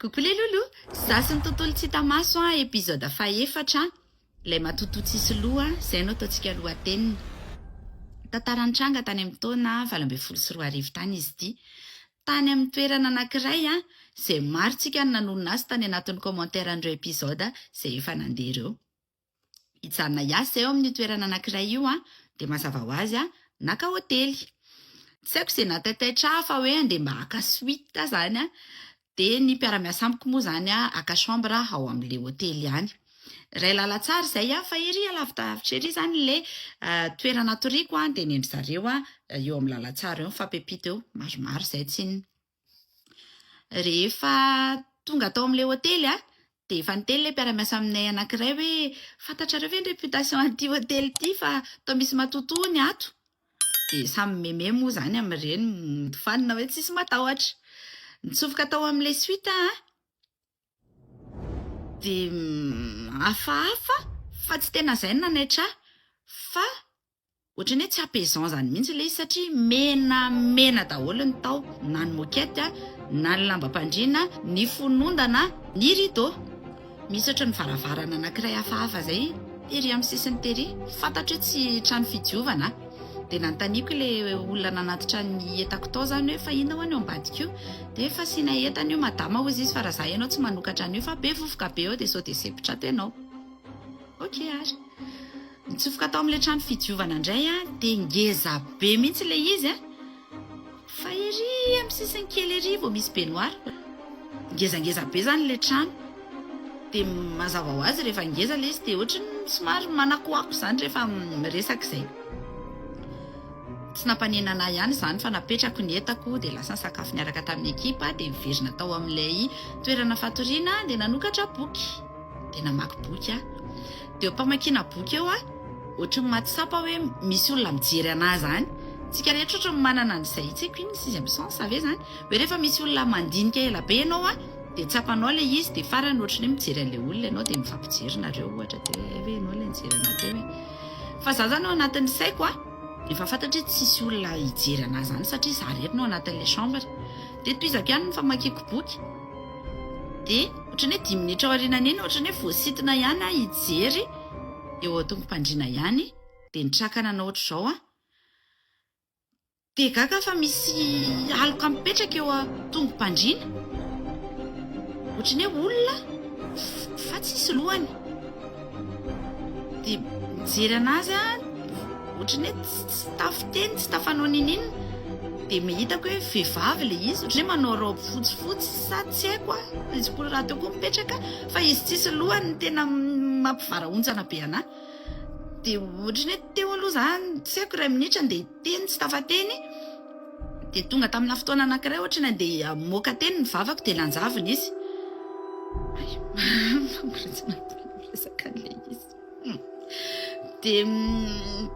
Coucou les loulous, za sy ny tontolo tsy hita maso an, episode fahefatra an, ilay matotoa tsisy loha, izay no ataontsika lohateniny. Tantara nitranga tany amin'ny taona valo ambin'ny folo sy roa arivo tany izy ity. Tany amin'ny toerana anankiray an, izay marontsika no nanonona azy tany anatin'ny commentaire an'ireo episode izay efa nandeha ireo. hijanona hiasa eo amin'io toerana anankiray io an, dia mazava ho azy an, naka hotely. Tsy haiko izay nahataitaitra ahy fa hoe handeha mba haka suite izany an, dia ny mpiara-miasa amiko moa izany an, haka chambre ao amin'ilay hotely any. Iray lalantsara izay an, fa ery alavidavitra ery izany ilay toerana hatoriako an, dia ny an-dry zareo an, eo amin'ny lalantsara eo, mifampipito eo, maromaro izay tsinona. Rehefa tonga tao amin'ilay hotely dia efa niteny ilay mpiara-miasa aminay anankiray hoe, fantatrareo ve ny réputation an'ity hotely ity fa toa misy matotoa hono ato? Dia samy meme moa izany amin'ireny, mody fanina hoe tsisy matahotra. Nitsofoka tao amin'ilay suite aho dia hafahafa fa tsy tena izay no nanaitra ahy fa Ohatran'ny hoe tsy apaisant izany mihitsy ilay izy satria menamena daholo ny tao, na ny moquette, na ny lambam-pandriana, ny fonondana, ny rideau. Misy ohatran'ny varavarana anankiray hafahafa izay tery amin'ny sisiny tery. Fantatro hoe tsy trano fidiovana. Dia nanontaniako ilay olona nanatitra ny entako tao izany hoe fa inona ho'a ny ao ambadika io? Dia fasiana entana io madama hoy izy fa raha izaho ianao tsy manokatra an'io fa be vovoka be ao dia sao dia sempotra ato ianao. Ok ary. Nitsofoka tao amin'ilay trano fidiovana indray aho dia ngeza be mihitsy ilay izy a! Fa ery amin'ny sisiny kely ery vao misy baignoire. Ngezangeza be izany ilay trano. Dia mazava ho azy rehefa ngeza ilay izy dia ohatry ny somary manakoako izany rehefa miresaka izay. Tsy nampanenana ahy ihany izany fa napetrako ny entako dia lasa nisakafo niaraka tamin'ny ekipa dia niverina tao amin'ilay toerana fatoriana dia nanokatra boky. dia namaky boky aho. Dia eo am-pamakiana boky eo aho, ohatran'ny mahatsapa hoe misy olona mijery an'ahy izany. Isika rehetra ohatran'ny manana an'izay, tsy haiko inona, sixième sens ve izany? Hoe rehefa misy olona mandinika ela be ianao dia tsapanao ilay izy, dia farany ohatran'ny hoe mijery an'ilay olona ianao dia mifampijery nareo ohatra, dia hoe hay ve ianao ilay nijery an'ahy teo e? Fa izaho izany ao anatin'ny saiko a, efa fantatro hoe tsisy olona hijery an'ahy izany satria izaho irery no ao anatin'ilay chambre. Dia tohizako ihany ny famakiako boky. Dia ohatran'ny hoe dimy minitra aorianan'iny ohatran'ny hoe voasintona ihany aho hijery eo an-tongom-pandriana ihany dia nitraka nanao ohatr'izao aho. Dia gaga aho fa misy aloka mipetraka eo an-tongom-pandriana. Ohatran'ny hoe olona fa tsisy lohany. Dia mijery anazy aho, ohatran'ny hoe tsy tafiteny, tsy tafanao niniana. Dia hitako hoe vehivavy ilay izy, ohatran'ny hoe manao raoby fotsifotsy sa tsy haiko an, izy koa rahateo koa mipetraka fa izy tsisy lohany no tena mampivarahontsana be an'ahy. Dia ohatran'ny hoe teo aloha izaho, tsy haiko iray minitra, dia hiteny tsy tafateny. Dia tonga tamina fotoana anankiray ohatra ny andeha hamoaka teny ny vavako dia lanjavina izy. Hay mama famoretana tena miresaka an'ilay izy. Hum. Dia mm,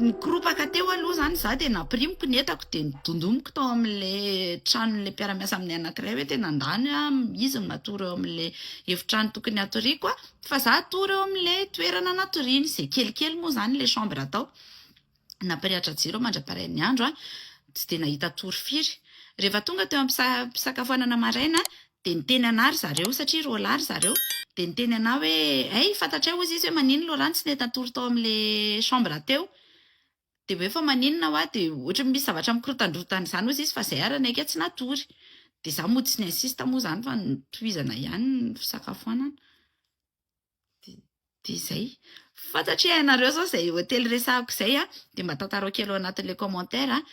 nikoropaka teo aloha izany za dia nampirimiko ny entako dia nodondomiko tao amin'ilay tranon'ilay mpiara-miasa amin'ny anankiray hoe tena andany ah, izy no natory eo amin'ilay efitrano tokony hatoriako ah, fa za hatory eo amin'ilay toerana natoriany, izay kelikely moa izany ilay chambre tao. Nampirehatra jiro aho mandra-parain'ny andro, tsy dia nahita tory firy. Rehefa tonga teo am-pisakafoanana maraina, dia niteny anah ry zareo, satria roa lahy ry zareo, dia niteny anah hoe, Hey, fantatray hozy izy hoe maninona Laurent tsy nety natory tao amin'ilay chambre teo? Dia hoe fa maninona hoa? Dia ohatran'ny misy zavatra mikorontandrontana izany hozy izy fa izay ary naika tsy natory. Dia izaho mody tsy ni-insiste moa izany fa notohizana ihany ny fisakafoanana. dia izay fantatro hoe ianareo izao izay hotely resahako izay an dia mba tantarao kely ao anatin'ilay commentaire an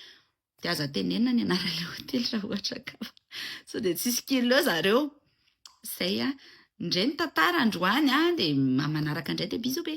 dia aza tenenina ny anaran'ilay hotely raha ohatra ka sao dia tsisy kilo eo zareo izay an indray ny tantara androany an dia manaraka indray dia bisous be